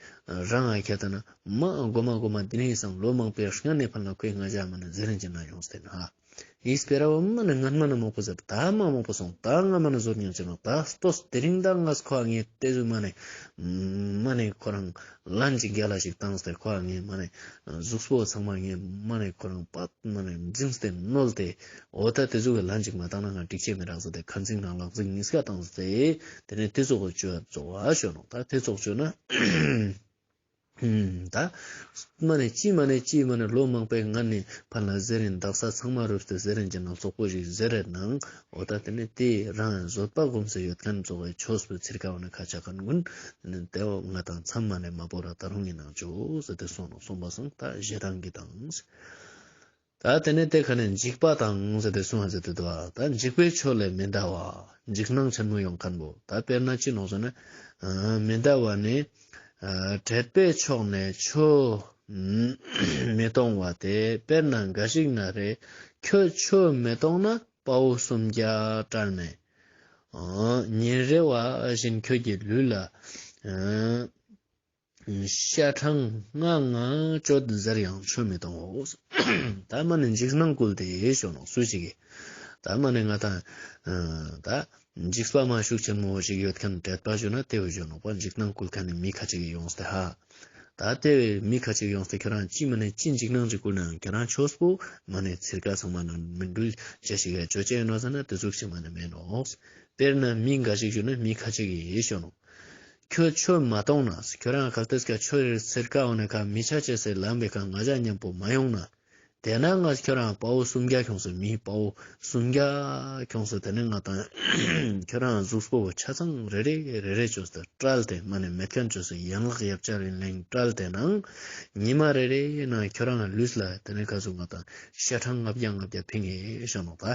རང་ང་ཁྱེད་ལྟ་ན་མ་ཨ་སྒོར་མ་སྒོར་མ་འདི་ནས་སང་ལོ་མང་པོའི་སྔ་ནས་ཕར་ན་ཁོའི་ང་རྒྱ་མ་ནི་འཛེར་རིན་གྱི་ན་ཡོང་ཟེར་ན། ཡིས་སྤེ་ར་བ་མ་ནི་ང་མ་ནི་མོག་པོ་ཟེར་ད་མ་མོག་པོ་སོང་ད་ང་མ་ནི་ཟོར་ཉམས་ཅིག་ནོག་ད་ལྟོས་དེ་རིང་ད་ང་ཁོ་ཨ་ངའི་ལྟས་གཟུགས་མ་ནི་མ་ནི་ཁོ་རང་ལ་འཇིགས་རྒྱ་ལ་ཞིག་བཏང་སྟེ་ཁོ་རང་ངའི་མ་ནས་གཟུགས་སོ་ཚང་མ་ངའི་མ་ནས་ཁོ་རང་པགས་ན་ནས་འཛིངས་སྟེ་བསྣོལ་ཏེ། འོ་ད་དེ་ཚོ་གི་ལ་འཇིགས་མ་བཏང་ན་ང་འགྲིག་ཆད་མི་རག་ཟེར་ཏེ་ཁ་འཛིངས་དང་ལག་འཛིངས་གཉིས་ཀ་བཏང་སྟེ། དེ་ནས་དེ་ཚོ་གི་སྤྱོད་རྫོགས་བ་ཞོན་ནོ་ད་དེ་ཚོ་སྤྱོད་ན། ད་མ་ནས་ཅི་མ་ནས་ཅི་མ་ནས་ལོ་མང་པའི་ང་ནི་ཕ་ལ་ཟེར་རིན་འདག་ས་ཚང་མ་རུབ་སྟེ་ཟེར་རིན་གྱི་ནང་ཙོག་པོ་ཞིག་ཟེར་རེ་ནང་འོ་ད་དེ་ནས་དེས་རང་ཡང་བཟོད་པ་སྒོམ་སེ་ཡོད་དམ་རྫོགས་པའི་ཆོས་སུ་ཚིར་ཁ་བ་ན་ཁ་ཆ་ཁར་མགོན། དེ་ནས་དེ་འོག་ང་དང་མཚམས་མ་ནས་མ་བོར་ར་ད་རུང་ཡིན་ནང་འཇོག་ཟེར་ཏེ་སོང་ནོ་གསུངས་པ་སོང་ད་གཞས་དྲང་གི་དང། ད་དེ་ནས་དེ་ཁ་ནས་འཇིགས་པ་དང་ཟེར་ཏེ་སོང་ཨ་ཟེར་ཏེ་དུ་བ་ད་འཇིགས་པའི་ཆོས་ལས་མི་འདའ་བ་འཇིགས་སྣང་ཆ་ནུ་ཡོང་ཁར་འབོ་ད་དཔེར་ན་ཅི་ནོ་ཟེར་ན། མི་འདའ་བ་ནི། དྲེགས་པའི་ཕྱོགས་ནས་ཆོས་མི་གཏོང་བ་དེ་དཔེར་ན་འགའ་ཞིག་ན་རེ་ཁྱོད་ཆོས་མི་གཏོང་ན་དཔའ་བོ་སུམ་བརྒྱ་བཀྲར་མེད། ཉིན་རེ་བ་བཞིན་ཁྱོད་ཀྱི་ལུས་ལ་ཤ་གྲངས་ལྔ་ལྔ་གཅོད་ཟེར་ཡང་ཆོས་མི་གཏོང་ངོ། ད་མ་ནི་འཇིགས་སྣང་བསྐུལ་ཏེ་ཞོག་ནོ་སུ་ཞིག་གིས་ད་མ་ནི་ང་དང། འཇིགས་པ་མ་ཞུགས་ཆེན་མོ་བོ་ཞིག་ཡོད་མཁན་དྲེད་པ་བཞོན་ན་དེ་བས་གཞོན་ནོག་པ་འཇིགས་སྣང་བསྐུལ་མཁན་ནི་མི་ཁ་ཅིག་གིས་ཡོང་སྟེ་ཧ། ད་དེ་བས་མི་ཁ་ཅིག་ཡོང་སྟེ་ཁྱོད་རང་ཅི་མ་ནས་ཅི་འཇིགས་སྣང་ཅིག་བསྐུལ་ནའང་ཁྱོད་རང་ཆོས་པོ་མ་ནས་ཚིར་ཁ་ཚང་མ་ནང་ནས་མི་འགྲུལ་བྱེད་ཞིག་གས་བཅོས་ཅན་ཡོད་ན་ཟེར་ན་དེ་ཚུགས་ཆེན་མ་ནས་མེད་ནོ། དཔེར་ན་མི་འགའ་ཞིག་བཞུགས་ན་མི་ཁ་ཅིག་གིས་གཞོན་ནོག། ཁྱོད་ཆོས་མ་གཏོང་ན་ཁྱོད་རང་ག་ལྟོས་ཀྱང་ཆོས་རེར་ཚིར་ཁ་འོག་ནས་ཁ་མི་ཆ་བྱེད་སའི་ལམ་པའི་ཁ་ང་བཞག་སྙམ་པོ་མ་ཡོང་ན། དེས་ན་ང་ཁྱོད་རང་དཔའ་བོ་སུམ་བརྒྱ་ཁྱོངས་སོ་མི་དཔའ་བོ་སུམ་བརྒྱ་ཁྱོངས་སོ་དེ་ནས་ང་དང་ཁྱོད་རང་གཟུགས་པོ་ཆ་ཚང་རེ་རེ་རེ་རེ་བྱོས་སོ་བཀྲལ་ཏེ་མ་ནས་མེ་ཐོན་བྱོས་སོ་ཡན་ལག་ཡབ་ཆ་རིང་ལིང་བཀྲལ་ཏེ་ནང་ཉི་མ་རེ་རེའི་ནང་ཁྱོད་རང་ལུས་ལ་དེ་ནས་ཁ་ཟུག་ང་དང་ཤ་ཁྲག་ལྔ་བརྒྱ་ལྔ་བརྒྱ་ཕིང་ངེ་ཤ་མོ་བ།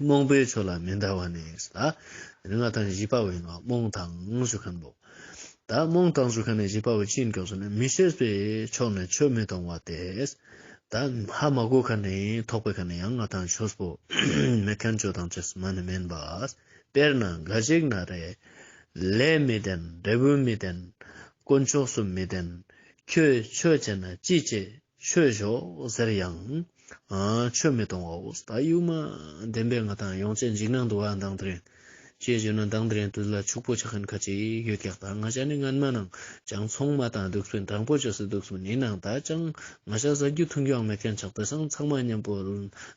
རྨོངས་པའི་ཆོས་ལ་མི་འདའ་བ་ནི་ལ། རིགས་ལྔ་དང་བཞི་པ་བས་ན་རྨོངས་དང་ཞུ་མཁན་པོ། ད་རྨོངས་དང་ཞུ་མཁན་ནི་བཞི་པ་བས་ཅི་འགྱོགས་སུ་ནི་མི་ཤེས་པས་ཕྱོགས་ནས་ཆོས་མི་མཐོང་བ་སྟེ། ད་ཧ་མ་གོ་ཁ་ནི་ཐོགས་པའི་ཁ་ནི་ཡང་ལྔ་དང་ཆོས་པོ་མེད་མཁན་བཅུ་དང་བཅུ་གསུམ་མ་ནི་མིན་པ། དཔེར་ན་འགའ་ཞིག་ན་རེ། ལས་མི་ལྡན་འབྲས་བུ་མི་ལྡན། དཀོན་མཆོག་སུ་མི་ལྡན། ཁྱོད་ཆོས་བྱས་ན་ཅི་བྱེད་ཆོས་ཞོག་ཟེར་ཡང། ཆོས་མི་གཏོང་བའོ། ད་ཡུལ་མ་བདེན་པའི་ང་དང་ཡོངས་བཅད་འཇིགས་སྣང་དུ་བ་མདངས་དྲན། ཅེས་བརྗོད་ན་མདངས་དྲན་དུས་ལ་ཕྱུག་པོ་ཆགས་མཁན་ཁ་ཅིག་ཡོད་ཀྱང་ད་ང་ཤ་ནི་རྔན་མ་ནང་ཅང་ཚོང་མ་དང་སྡུག་སོན་དྲང་པོ་བྱེད་སུ་འདུག་སུ་ནི་ནང་ད་ཅང་ང་ཤ་ཟ་རྒྱུ་འཐུང་རྒྱུའང་མེད་མཁན་ཆགས་དེ་སང་ཚང་མ་མཉམ་པོ་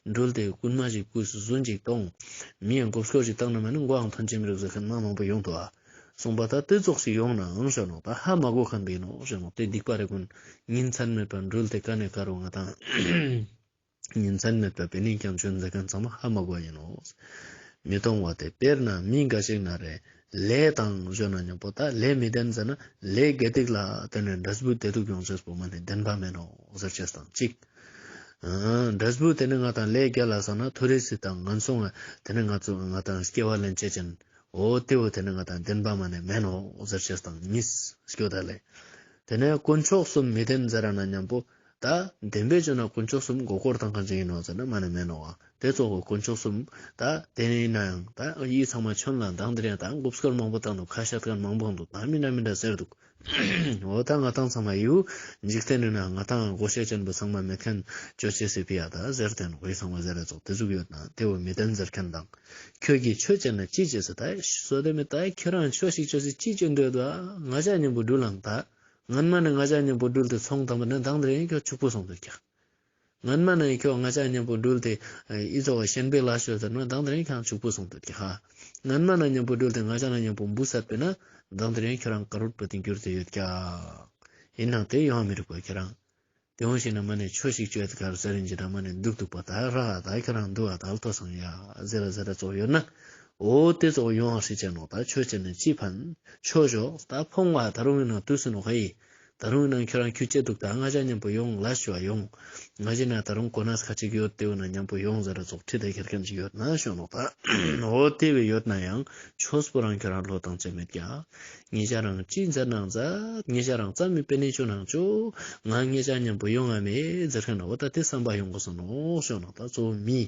འགྲུལ་ཏེ་རྐུན་མ་ཞིག་བརྐུས་སུ་སུ་འཇིགས་གཏོང་མི་ཡང་སྒོབ་ཤོག་ཅིག་བཏང་ན་མ་ནི་མགོའང་ཐོན་ཅི་མི་རུག་ཟེར་མཁན་མ་མང་པོ་ཡོང་དུ་བ། གསུངས་པ་ལྟར་དེ་རྫོགས་ཤིག་ཡོང་ནའང་བཞོན་ནོ་ད་ཧ་མ་དགོས་ཁ་འབེན་ནོ་བཞོན་ནོ་དེ་སྡིག་པ་རེ་ཀུན་ཉིན་མཚན་མེད་པར་འགྲུལ་ཏེ་ཀ་ནས་ཀ་རུ་ང་དང་ཉིན་མཚན་མེད་པར་བེ་ནས་ཀྱང་བྱོན་མཛད་མཁན་ཚང་མ་ཧ་མ་དགོས་ཡིན་ནོ། མི་གཏོང་བ་དེ་དཔེར་ན་མི་འགའ་ཞིག་ན་རེ་ལས་དང་བཞོན་ན་ཉོག་པོ་ད་ལས་མི་ལྡན་ཟེར་ན་ལས་དགེ་སྡིག་ལ་བརྟེན་ནས་འདྲེ་སྦུག་དེ་ཐུག་ཡོང་ཕྱིར་བུ་མ་ནི་བདེན་པ་མིན་ནོ་ཟེར་ཆེས་དང་གཅིག། འདྲེ་སྦུག་དེ་ནི་ང་དང་ལས་དགེ་ལ་བསམ་ན་ཐུགས་རེ་སི་དང་ང་མཚུངས་བས་དེ་ནི་ང་ཚོ་ང་དང་སྐྱེ་བ་ལན་བྱེད་ཅན་ཨོ་སྟེ་འོ་དེ་ནི་ང་དང་ལྡན་པ་མ་ནས་མན་ནོ་ཟེར་ཞེས་དང་ཉིས་སྐྱོ་ད་ལས། དེ་ནས་དཀོན་མཆོག་གསུམ་མི་ལྡན་ཟེར་ར་ན་སྙམ་པོ། ད་ལྡན་པས་བྱོན་ན་དཀོན་མཆོག་གསུམ་མགོ་སྐོར་དང་གང་ཅི་ཡིན་ནོ་ཟེར་ན་མ་ནས་མན་ནོ་ཨ་དེ་གཙོ་བོ་དཀོན་མཆོག་གསུམ་ད་དེ་ནས་ཡིན་ན་ཡང་ད་ཡིད་ཚང་མ་ཁྱོད་ལ་འདང་འདི་རེད་ད་མགོ་སྐོར་མང་པོ་དང་འདུག་ཁ་ཤ་ཐག་མང་པོ་འདུག་ད་མི་འདྲ་མི་འདྲ་ཟེར་འདུག་འོ་ད་ང་ཐང་ཚང་མ་ཡིའུ་འཇིག་རྟེན་རིང་ན་ང་ཐང་སྒོ་ཤད་ཅན་པོ་ཚང་མ་མེད་མཁན་ཅོ་ཅེ་སི་པི་ཡ་ད་ཟེར་དེན་ཝེ་ཚང་མ་ཟེར་རེ་ཚོགས་དེ་ཚུགས་ཡོད་ན་དེ་བོ་མི་དེན་ཟེར་མཁན་དང་ཁྱོད་ཀྱིས་ཆོས་བྱེད་ན་ཅི་བྱེད་ཟེར་ད་བཟོ་དེ་མི་ད་ཁྱོད་རང་ཆོས་ཤིག་བྱོས་ཟེར་ཅི་བྱེད་འདོད་ད་ང་ཅག་མཉམ་པོ་འགྲུལ་ལངས་ད་ངན་མ་ནི་ང་ཅག་མཉམ་པོ་འགྲུལ་དེ་ཚོང་དང་པོ་ནི་དང་དེ་རིང་ཁྱོད་ཕྱུག་པོ་ཚོང་དུ་རྒྱག། ངན་སྨྲ་ནི་ཁྱོད་ང་ཅག་གཉེན་པོ་སྦྲུལ་ཏེ། ཨི་ཙོ་བ་ཤན་པའི་ལ་ཤོད་ཟེར་ན་བདག་འདི་རན་ཁྱང་ཕྱུག་པོ་སོང་འདུག་གི་ཧ། ངན་སྨྲ་ན་གཉེན་པོ་སྦྲུལ་ཏེ་ང་ཅག་ན་གཉེན་པོ་འབུ་ཟེར་པས་ན་བདག་འདི་རན་ཁྱོད་རང་ག་རུར་པོ་ཏེ་འགྱུར་དུ་ཡོད་ཀྱང། ཡིན་ནང་དེ་ཡོང་མི་རིག་པ་ཁྱོད་རང། དེ་འོང་ཞིག་ན་མ་ནི་ཆོས་ཤིག་བཅོད་དེ་གར་ཟེར་རིན་ཅི་ད་མ་ནི་འདུག་འདུག་པ་ད་ཧ་ཧ་ད་ཁྱོད་རང་འདུག་ཨ་ད་ལ་ཐོ་སང་ཡ་ཟེར་ར་ཟེར་ར་ཙོག་ཡོད་ན། འོ་དེ་ཙོག་ཡོང་ཧ་ཧྲི་ཅན་ནོ་ད་ཆོས་ཅན་ནི་ཅི་ཕན། ཆོས་ཕྱོགས་ད་ཕོང་བ་ད་རུང་ཡིན་ན་དུས་སུ་ནོ་ཧ་ཡིས། ད་རུང་ན་ཁྱོད་རང་ཁྱུ་སྐྱེ་འདུག་ད་སྔ་ཅག་མཉམ་པོ་ཡོང་ལ་ཞུ་བ་ཡོང། ང་གཞི་ན་ད་རུང་གོ་ནག་ཁ་ཅིག་ཡོད་དེའུ་ན་མཉམ་པོ་ཡོང་ཟེར་ར་རྫོགས་ཁྲི་ལྡེ་ཁེར་ཁེམ་ཅིག་ཡོད་ན་ཤོ་ནོག་ད། འོ་དེ་བས་ཡོད་ན་ཡང་ཆོས་སྤོ་རང་ཁྱོད་རང་ལོ་དང་བཅས་མེད་རྒྱ། ངེད་ཅག་རང་གཅིག་མཛའ་ནང་མཛའ། ངེད་ཅག་རང་རྩ་མེད་པའི་གནས་ཆུ་ནང་ཆུ། ང་ངེད་ཅག་མཉམ་པོ་ཡོང་ང་མེད་ཟེར་མཁན་ན་འོ་ད་དེ་བསམ་པ་ཡོང་གོ་ཟོ་ནོག་ཤོ་ནོག་ད་གཙོ་བོ་མི།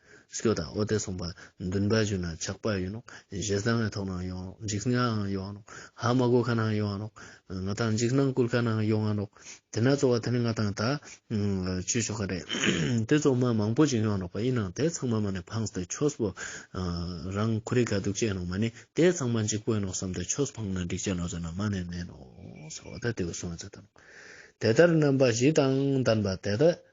སྐྱོ་དང་ཨོ་ཏེ་སོང་པ་འདུན་པ་བྱུང་ན་ཆགས་པ་ཡོད་ནོ། ཞེ་སྡང་བའི་ཐོག་ནང་ཡོང་ངོ། འཇིགས་དངངས་ཡོང་ངོ། ཧ་མ་གོ་ཁ་ནང་ཡོང་ངོ། ང་དང་འཇིགས་སྣང་སྐུལ་ཁ་ནང་ཡོང་ངོ། དེ་ན་གཙོ་བ་དེ་ནི་ང་དང་ད་ཆོས་ཆོ་ག་རེད། དེ་གཙོ་མ་མང་པོ་ཅིག་ཡོང་ནོག་པ་ཡིན་ནང་དེ་ཚང་མ་མ་ནི་འཕངས་ཏེ་ཆོས་པོ། རང་ཁུ་རི་ག་འདུག་ཅེས་ནང་མ་ནི་དེ་ཚང་མ་འཇིགས་པོ་ཡིན་ནོག་བསམ་ཏེ་ཆོས་འཕངས་ན་འགྲིག་ཅེས་ནང་བཟོས་ན་མ་ནི་མེད་ནོག། ཟོ་དེ་དེ་བས་སོང་བས་ཚེ་དང། དེ་ལྟར་རྣམ་པ་བཞི་དང་ལྡན་པ་དེ་དག་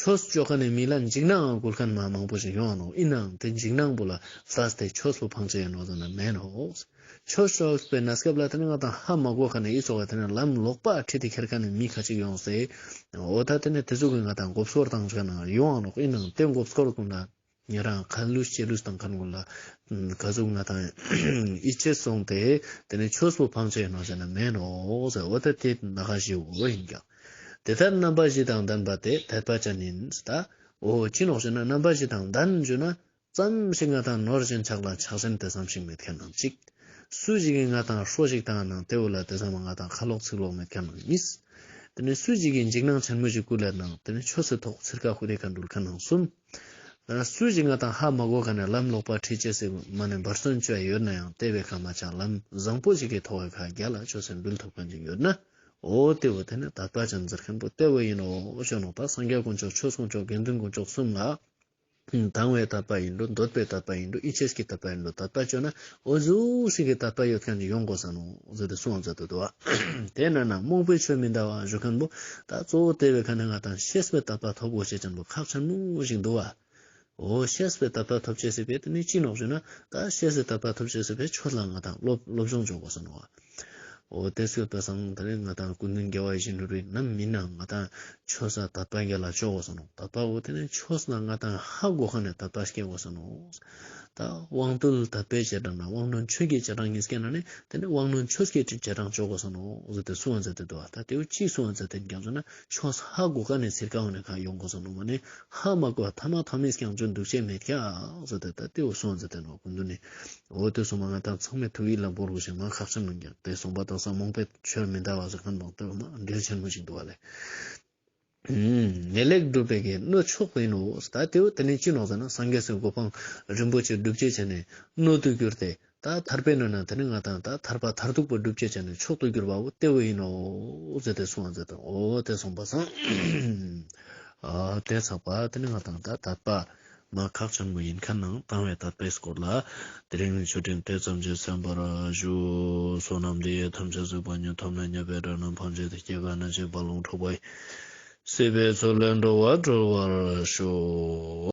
ཆོས་སྤྱོད་ཁ་ནས་མི་ལ་འཇིགས་སྣང་ངང་སྒུར་མཁན་མ་མང་པོ་ཞིག་ཡོང་ནོ་ཡིན་ནའང་དེ་འཇིགས་སྣང་པོ་ལ་བཟའ་སྟེ་ཆོས་སུ་འཕང་བྱེད་ཡ་ནོ་ཟེར་ན་མེད་ནོ། ཆོས་ཕྱོགས་པའི་ན་སྐབས་ལ་དེ་ནས་ང་དང་ཧ་མ་གོ་ཁ་ནས་ཡིད་ཆོག་པ་དེ་ནས་ལམ་ལོག་པ་ཁྲིད་དེ་ཁྱེར་ཁ་ནས་མི་ཁ་ཅིག་ཡོང་ཟེར། འོ་ད་དེ་ནས་དེ་ཚོ་གིས་ང་དང་འགོབ་སོར་བཏང་བྱས་ན་ཡོང་ཨ་རོག་ཡིན་ནའང་དེ་འགོབ་སོར་བཏང་ན། ཉན་རང་གང་བསླུས་ཤེས་བསླུས་དང་གང་གོ་ལ། ག་གཟུགས་ང་དང་ཡིད་ཆེས་སོང་སྟེ། དེ་ནས་ཆོས་སུ་འཕང་བྱས་ནོ་ཟེར་ན་མེད་ནོ། འོ་ད་དེ་ན་གང་ཞིག་འོ་ཡིན་ཀྱང། དེ་ལྟར་རྣམ་པ་བཞི་དང་ལྡན་པ་དེ་དད་པ་ཅན་ཡིན། འོ་ཅི་ནོག་ཤེ་ན་རྣམ་པ་བཞི་དང་ལྡན་བརྗོད་ན། བསམ་གཞིག་ང་དང་ནོར་བཞིན་ཆགས་ལ་ཆགས་ཞེན་དད་བསམ་ཞིག་མེད་མཁན་ནང་གཅིག། སུ་ཞིག་གིས་ང་དང་ཧྲོ་ཞིག་དང་ནང་སྟེའུ་ལ་དད་བསམ་ང་དང་ཁ་ལོག་ཚིག་ལོག་མེད་མཁན་ནང་གཉིས། དེ་ནས་སུ་ཞིག་གིས་འཇིགས་སྣང་ཆེན་མོ་ཞིག་སྐུ་ལས་སྣང་དེ་ནས་ཆོས་སུ་ཐོག་ཚིར་ཁ་ཧུ་རེ་ཁ་འདུལ་ཁ་ནང་གསུམ། སྲོད་ཀྱི་ང་དང་ཧ་མ་གོ་ག་ནས་ལམ་ལོག་པར་ཁྲིད་བྱེད་སའི་མ་ནི་འབར་སོན་བཅས་ཡོད་ན་ཡང་ལྟེ་བའི་ཁ་མ་ཆག་ལམ་བཟང་པོ་ཞིག་གིས་ཐོ་བའི་ཁ་རྒྱ་ལ་ཆོས་སེམས་འབུལ་ཐུབ་མཁན་ཅིག་ཡོད་ན་འོ་ལྟེ་བ་དེ་ནི་ད་ལྟ་ཅང་འཛེར་མཁན་པོ་ལྟེ་བ་ཡིན་ནོ་ཞོ་ནང་པ་སངས་རྒྱས་དཀོན་མཆོག་ཆོས་སྲུང་མཆོག་དགེ་འདུན་དཀོན་མཆོག་གསུམ་ལ་དང་བའི་དད་པ་ཡིན་འགྲོ་འདོད་པའི་དད་པ་ཡིན་འགྲོ་ཨི་ཆེས་ཀྱི་དད་པ་ཡིན་འགྲོ་ད་ལྟ་བཅོས་ན་འོ་ཟོ་སྲིད་ཀྱི་ད་དཔལ་ཡོད་མཁན་གྱི་ཡོང་དགོས་བསམ་མོ་ཟོ་དེ་སོང་ཟོ་དེ་དུ་བ། དེ་ན་ན་རྨོངས་པའི་ཆོས་མི་འདའ་བ་བཞུ་མཁན་པོ་ད་གཙོ་བོ་དེ་བས་ཁ་ནས་ང་དང་ཤེས་པའི་ད་དཔལ་ཐོབ་དགོས་བྱེད་ཀྱིན་པོ་ཁག་ཆ་མོ་ཞིག་འདུ་བ། འོ་ཤེས་པའི་ད་དཔལ་ཐོབ་བྱེད་སྲིད་པས་དེ་ནས་ཅི་ནོག་བཞུ་ན་ད་ཤེས་པའི་ད་དཔལ་ཐོབ་བྱེད་སྲིད་པས་ཁྱོད་ལ་ང་དང་སློབ་སྦྱོང་སྦྱོང་དགོས་བསམ་མོ་བ། ཨོ་གཏད་སོད་པ་སང་ད་རེས་ང་དང་ཀུན་ནུ་འགལ་བ་ཡེ་ཤེས་འགྲུབ་པའི་ནམ་མི་ན་ང་དང་ཆོ་ས་ད་པ་འགལ་ལ་ཅོག་གོ་ས་ནོ་ད་པ་ཨོ་དེ་ནས་ཆོ་ས་ན་ང་དང་ཧ་གོ་ཁ་ནས་ད་པ་སྐད་གོ་ས་ནོ་ད་དབང་རྟུལ་ད་པའི་བྱེ་བྲག་ན་དབང་རྣོན་ཆོས་ཀྱི་བྱེ་བྲག་ངེས་སྐད་ན་ནི་དེ་ནས་དབང་རྣོན་ཆོས་སྐད་ཀྱི་བྱེ་བྲག་ཅོག་གོ་ས་ནོ་གཟུགས་དེ་སུའང་འཛད་དེ་འདུ་བ་ད་དེའུ་གཅིག་སུའང་འཛད་དེ་འགལ་འཛོ་ན། ཆོས་ཧ་གོ་ག་ནས་ཟེར་ག་འོ་ནས་གང་ཡོང་གོ་སོང་ནོ་མོ་ནས་ཧ་མ་གོ་ཐ་མ་ཐོ་མིས་ཀྱང་ཅུང་འདུག་ཆེ་མེད་ཀྱག་སོ་དེ་ད་ལྟའི་འོ་སོང་ཟེར་དེ་ནོ་གོ་འདུག་ནི་འོ་དེ་སོང་མ་ང་ད་ཚང་མས་ཐུགས་ཡིད་ལ་འབོར་དགོས་ཞེས་མ་ཁག་ཆེན་མོ་གྱག་དེ་སོང་པ་དང་ས་མོང་པའི་ཆོས་མི་འདའ་བ་སོགས་ཁ་མདོག་སྟོད་དམག་འགྲེལ་ཆེན་མོ་ཞིག་འདུག་བ་ལས། ངེས་ལེགས་སྒྲུབ་པའི་གེ་གནོད་ཆོག་པ་ཡིན་ནོ་ད་ལྟའི་འོ་དེ་ནས་ཅི་ནོག་ཟེར་ན་སངས་རྒྱས་སུ་གོ་འཕང་རིན་པོ་ཆེ་སྒྲུབ་བྱེད་བྱས་ནས་གནོད་དུ་གྱུར་ཏེ་ད་ཐར་པའི་སྣོད་ནི་དེ་ནི་ང་དང་ད་ཐར་པ་མཐར་ཐུག་པ་སྒྲུབ་བྱེད་ཅན་ནི་མཆོག་ཏུ་གྱུར་པའོ་སྟེ་འོ་ཡིན་ནོ། ཟད་དེ་གཟུང་བ་ཟད་དོ། འོ་དེ་གཟུང་བ་ཟང། དེ་ཚགས་པ་དེ་ནི་ང་དང་ད་ཐར་པ། མ་ཁག་ཆེན་པོ་ཡིན་ཁ་ན་བཏང་བའི་ཐར་པའི་སྐོར་ལ། དེ་རིང་ནི་ཆོས་ཕྲན་དེ་ཙམ་གྱིས་ཟན་པར་བཞུགས། བསོད་ནམས་འདི་ཡིས་ཐམས་ཅད་གཟུགས་པ་ཉིད་ཐོབ་ནས་ཉེས་པའི་དགྲ་རྣམས་ཕམ་བྱེད་དུ་སྐྱེ་བ་ནི་བྱིས་པ་ལུང་འཕྲོག་པ་ཡིན། སྲིད་པའི་ཚུལ་ལས་འགྲོ་བ་གྲོལ་བར་ཤོག།